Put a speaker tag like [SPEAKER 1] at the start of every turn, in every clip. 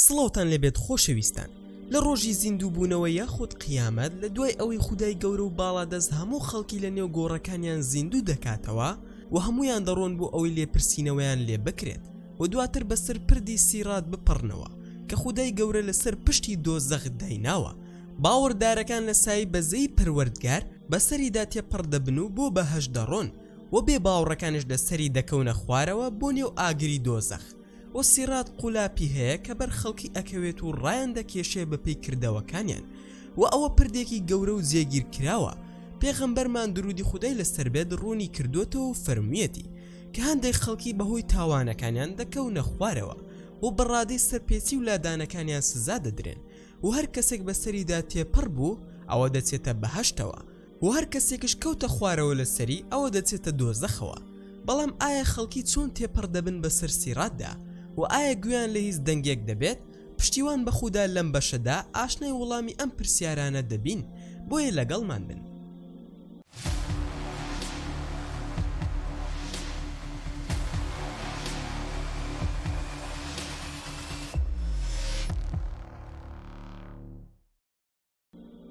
[SPEAKER 1] سڵاوتان لێبێت خۆشەویستان لە ڕۆژی زیندوو بوونەوە یاخود قیامەت لە دوای ئەوەی خودای گەورە و باڵادەست هەموو خەڵکی لە نێو گۆڕەکانیان زیندوو دەکاتەوە و هەموویان دەڕۆن بۆ ئەوەی لێپرسینەوەیان لێ بکرێت و دواتر بەسەر پردی سیڕات بپەڕنەوە کە خودای گەورە لەسەر پشتی دۆزەخ دایناوە باوەڕدارەکان لە سای بەزەی پەروەردگار بەسەریدا تێپەڕ دەبن و بۆ بەهەشت دەڕۆن و بێ باوڕەکانش لەسەری دەکەونە خوارەوە بۆ نێو ئاگری دۆزەخ و سیڕات قولاپی هەیە کە بەر خەڵکی ئەکەوێت و ڕایان دەکێشێ بەپێی کردەوەکانیان و ئەوە پردێکی گەورە و جێگیر کراوە پێغەمبەرمان درودی خودای لەسەر بێت ڕوونی کردوەتەوە و فەرموویەتی کە هەندێک خەڵکی بەهۆی تاوانەکانیان دەکەونە خوارەوە و بەڕادەی سەرپێچی و لادانەکانیان سزا دەدرێن و هەر کەسێک بەسەریدا تێپەڕ بوو ئەوە دەچێتە بەهەشتەوە و هەر کەسێکش کەوتە خوارەوە لە سەری ئەوە دەچێتە دۆزەخەوە بەڵام ئایا خەڵکی چۆن تێپەڕ دەبن بەسەر سیڕاتدا و ئایا گوێیان لە هیچ دەنگێک دەبێت پشتیوان بەخودا لەم بەشەدا ئاشنای وڵامی ئەم پرسیارانە دەبین بۆیە لەگەڵمان بن.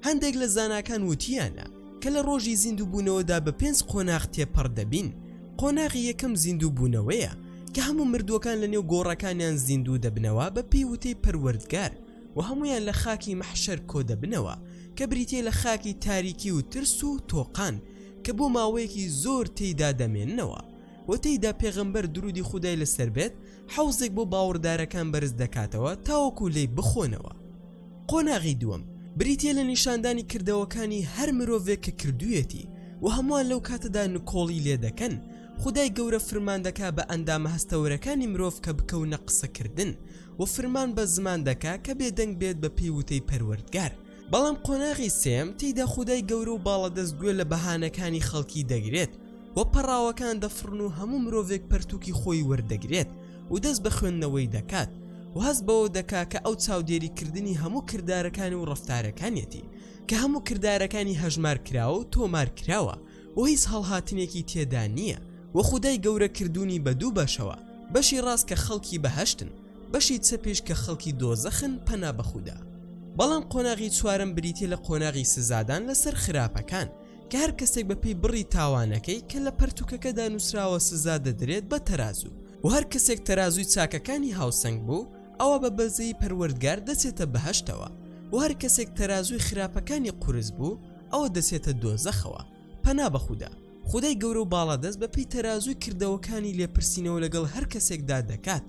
[SPEAKER 1] هەندێک لە زاناکان وتیانە کە لە ڕۆژی زیندووبوونەوەدا بە پێنج قۆناغ تێپەڕ دەبین قۆناغی یەکەم زیندوو بوونەوەیە کە هەموو مردووەکان لە نێو گۆڕەکانیان زیندوو دەبنەوە بە پێی وتەی پەروەردگار و هەمویان لە خاکی مەحشەر کۆدەبنەوە کە بریتە لە خاکی تاریکی و ترس و تۆقان کە بۆ ماوەیەکی زۆر تێیدا دەمێننەوە و تێیدا پێغەمبەر درودی خودای لەسەر بێت حەوزێک بۆ باوەڕدارەکان بەرز دەکاتەوە تاوەکو لێی بخۆنەوە. قۆناغی دووەم، بریتییە لە نیشاندانی کردەوەکانی هەر مرۆڤێک کە کردوویەتی و هەمووان لەو کاتەدا نکۆڵی لێ دەکەن، خودای گەورە فرمان دەکا بە ئەندامە هەستەوەرەکانی مرۆڤ کە بکەونە قسەکردن و فرمان بە زمان دەکا کە بێدەنگ بێت بەپێی وتەی پەروەردگار، بەڵام قۆناغی سێم تێیدا خودای گەورە و باڵەدەست گوێ لە بەهانەکانی خەڵکی دەگرێت و پەڕاوەکان دەفڕن و هەموو مرۆڤێک پەرتووکی خۆی وەردەگرێت و دەست بە خوێندنەوەی دەکات و هەست بەوە دەکا کە ئەو چاودێری کردنی هەموو کردارەکانی و ڕفتارەکانیەتی کە هەموو کردارەکانی هەژمار کراوە و تۆمار کراوە و هیچ هەڵهاتنێکی تێدا نییە وە خودای گەورە کردوونی بە دوو بەشەوە بەشی ڕاست کە خەڵکی بەهشتن بەشی چەپیش کە خەڵکی دۆزەخن پەنا بەخودا. بەڵام قۆناغی چوارەم بریتیە لە قۆناغی سزادان لەسەر خراپەکان کە هەر کەسێک بە پێی بڕی تاوانەکەی کە لە پەرتوکەکەدا نوسراوە سزا دەدرێت بە تەرازو و هەر کەسێک تەرازوی چاکەکانی هاوسەنگ بوو ئەوا بە بەزەیی پەروەردگار دەچێتە بەهەشتەوە و هەر کەسێک تەرازوی خراپەکانی قورس بوو ئەوە دەچێتە دۆزەخەوە. پەنا بە خودا، خودای گەورە و باڵادەست بە پێی تەرازووی کردەوەکانی لێپرسینەوە لەگەڵ هەر کەسێکدا دەکات.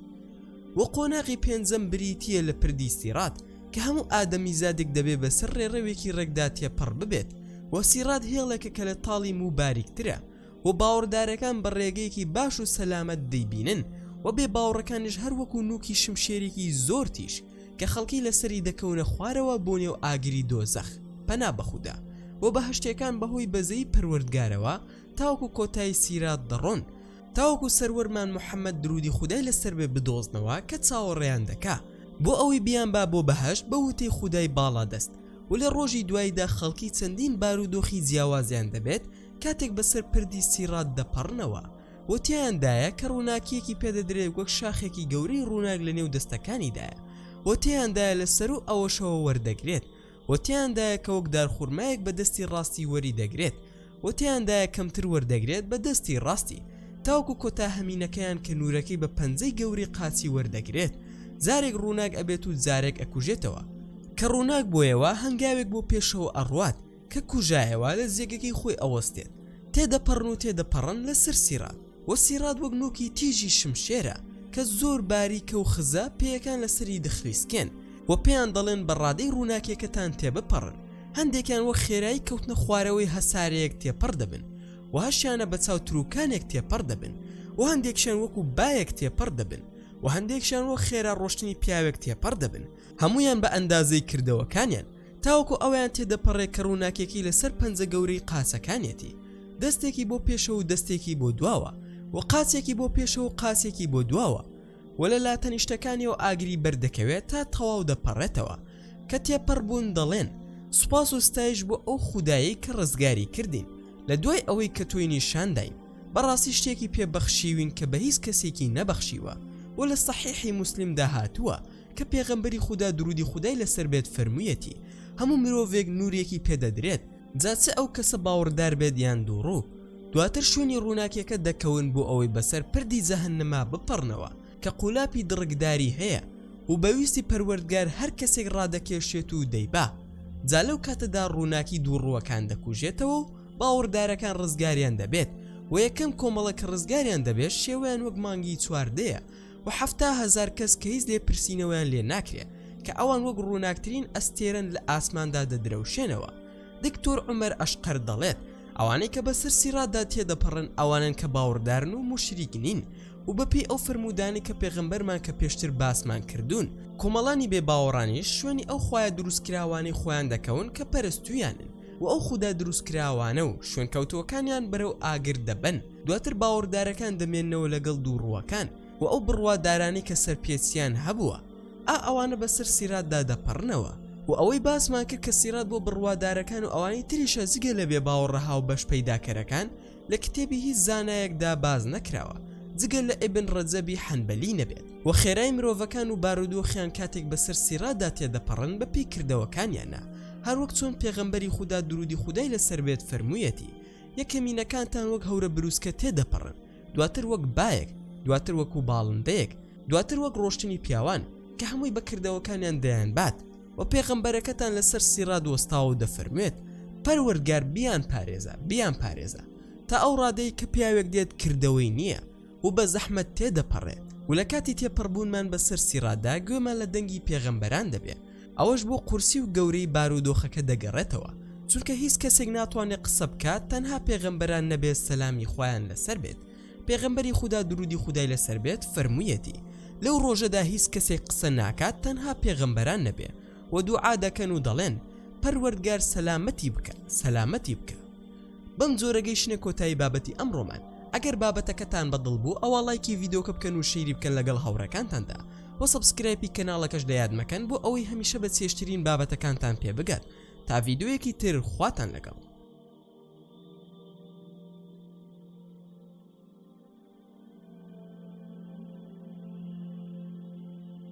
[SPEAKER 1] وە قۆناغی پێنجەم بریتییە لە پردی سیڕات کە هەموو ئادەمیزادێک دەبێ بە سەر ڕێڕەوێکی ڕێکدا تێپەڕ ببێت و سیڕات هێڵێکە کە لە تاڵی موو باریکترە و باوەڕدارەکان بە ڕێگەیەکی باش و سەلامەت دەیبینن و بێ باوەڕەکانیش هەر وەکوو نووکی شمشێرێکی زۆر تیژ کە خەڵکی لەسەری دەکەونە خوارەوە بۆ نێو ئاگری دۆزەخ پەنا بەخودا و بەهشتەکان بەهۆی بەزەی پەروەردگارەوە تاوەکو کۆتای سیرات دەڕۆن تاوەکو سەروەرمان محەمەد درودی خودای لەسەر بێ بدۆزنەوە کە چاوەڕێیان دەکا بۆ ئەوەی بیان با بۆ بەهەشت بە وتەی خودای باڵادەست و لە ڕۆژی دواییدا خەڵکی چەندین بارودۆخی جیاوازیان دەبێت کاتێک بەسەر پردی سیڕات دەپەڕنەوە و تێیاندایە کە ڕووناکییەکی پێدەدرێت وەک شاخێکی گەورەی ڕووناک لە نێو دەستەکانیدایە و تێیاندایە لە سەروو ئەوەشەوە وەردەگرێت و تێیاندایە کە وەک دارخورمایەک بە دەستی ڕاستی وەری دەگرێت و تێیاندایە کەمتر وەردەگرێت بە دەستی ڕاستی تاوکو کۆتا هەمینەکەیان کە نورەکەی بە پەنجەی گەوری قاچی وەردەگرێت جارێک ڕووناک ئەبێت و جارێک ئەکوژێتەوە کە ڕووناک بۆیەوە هەنگاوێک بۆ پێشەوە ئەڕوات کە کوژایەوا لە زێگەکەی خۆی ئەوەستێت تێدەپەڕن و تێدەپەڕن لەسەر سیڕات وە سیڕات وەک نۆکی تیژی شمشێرە کە زۆر باریکە و خزە پێیەکان لەسەری دەخلیسکێن وە پێیان دەڵێن بە ڕادەی ڕووناکیەکەتان تێبپەڕن هەندێکیان وەک خێرایی کەوتنە خوارەوەی هەسارەیەک تێپەڕ دەبن وە هەشیانە بە چاو تروکانێک تێپەڕ دەبن وە هەندێکشیان وەکو بایەک تێپەڕ دەبن وە هەندێکشیان وەک خێرا ڕۆشتنی پیاوێک تێپەڕ دەبن هەموویان بە ئەندازەی کردەوەکانیان تاوەکو ئەویان تێدەپەڕێ کە ڕووناکێکی لە سەر پەنجە گەورەی قاچەکانیەتی، دەستێکی بۆ پێشەوە و دەستێکی بۆ دواوە و قاچێکی بۆ پێشەوە و قاچێکی بۆ دواوە و لە لاتەنیشتەکانیەوە ئاگری بەر دەکەوێ تا تەواو دەپەڕێتەوە، کە تێپەڕ بوون دەڵێن، سوپاس و ستایش بۆ ئەو خودایەی کە ڕزگاری کردین، لە دوای ئەوەی کە تۆی نیشان داین، بەڕاستی شتێکی پێ بەخشیوین کە بە هیچ کەسێکی نەبەخشیوە و لە سەحیحی موسلیم دا هاتووە، کە پێغەمبەری خودا درودی خودای لەسەر بێت فەرموویەتی هەموو مرۆڤێک نورێکی پێ دەدرێت جا چ ئەو کەسە باوڕدار بێت یان دووڕوو دواتر شوێنی ڕووناکیەکە دەکەون بۆ ئەوەی بەسەر پردی جەهەنەما بپەڕنەوە کە قولاپی دڕکداری هەیە و بە ویستی پەروەردگار هەر کەسێک ڕادەکێشێت و دەیبا جا لەو کاتەدا ڕووناکی دووڕووەکان دەکوژێتەوە و باوەڕدارەکان ڕزگاریان دەبێت و یەکەم کۆمەڵە کە ڕزگاریان دەبێت شێوەیان وەک مانگی چواردەیە و حەفتا هەزار کەس کە هیچ لێپرسینەوەیان لێ ناکرێ کە ئەوان وەک ڕووناکترین ئەستێرەن لە ئاسماندا دەدرەوشێنەوە دکتۆر عومەر ئەشقەر دەڵێت ئەوانەی کە بەسەر سیڕاتدا تێدەپەڕن ئەوانەن کە باوەڕدارن و موشریک نین و بەپێی ئەو فرموودانی کە پێغەمبەرمان کە پێشتر باسمان کردوون کۆمەڵانی بێ باوەڕانیش شوێنی ئەو خوایە دروستکراوانەی خۆیان دەکەون کە پەرستویانن و ئەو خودا دروستکراوانە و شوێنکەوتووەکانیان بەرەو ئاگر دەبەن دواتر باوەڕدارەکان دەمێنەوە لەگەڵ دوو ڕووەکان و ئەو بڕوادارانی کە سەرپێچیان هەبووە ئا ئەوانە بەسەر سیراتدا دەپەڕنەوە و ئەوەی باسمان کرد کە سیرات بۆ بڕوادارەکان و ئەوانی تریشە جگە لە بێ باوەڕە هاو بەش پەیداکەرەکان لە کتێبی هیچ زانایەکدا باز نەکراوە جگە لە ئبن ڕەجەبی حەنبەلی نەبێت و خێرای مرۆڤەکان و بارودۆخیان کاتێک بەسەر سیرادا تێدەپەڕن بە پێی کردەوەکانیانە هەروەک چۆن پێغەمبەری خودا درودی خودای لەسەر بێت فەرموویەتی یە کەمینەکانتان وەک هەورە بروسکە تێ دەپەڕن دواتر وەک بایەک دواتر وەکو باڵندەیەک دواتر وەک ڕۆشتنی پیاوان کە هەمووی بە کردەوەکانیان دەیان بات و پێغەمبەرەکەتان لەسەر سیڕاد وەستاوە و دەفەرموێت پەروەردگار بیان پارێزە بیان پارێزە تا ئەو ڕادەی کە پیاوێک دێت کردەوەی نییە و بە زەحمەت تێ دەپەڕێت و لە کاتی تێپەڕبوونمان بەسەر سیڕاددا گوێمان لە دەنگی پێغەمبەران دەبێ ئەوەش بۆ قورسی و گەورەی بارودۆخەکە دەگەڕێتەوە چونکە هیچ کەسێک ناتوانێت قسە بکات تەنها پێغەمبەران نەبێت سەلامی خوایان لەسەر بێت پێغەمبەری خودا درودی خودای لەسەر بێت فەرموویەتی لەو ڕۆژەدا هیچ کەسێک قسە ناکات تەنها پێغەمبەران نەبێ و دوعا دەکەن و دەڵێن پەروەردگار سەلامەتی بکە سەلامەتی بکە بەم جۆرەگەیشتە کۆتایی بابەتی ئەمڕۆمان ئەگەر بابەتەکەتان بەدڵ بوو ئەوە لایکی ڤیدۆکە بکەن و شیری بکەن لەگەڵ هاوڕەکانتاندا وە سەبسکرایپی کەناڵەکەش لەیاد مەکەن بۆ ئەوەی هەمیشە بە چێژترین بابەتەکانتان پێ بگات تا ڤیدیۆیەکی تر خواتان لەگەڵ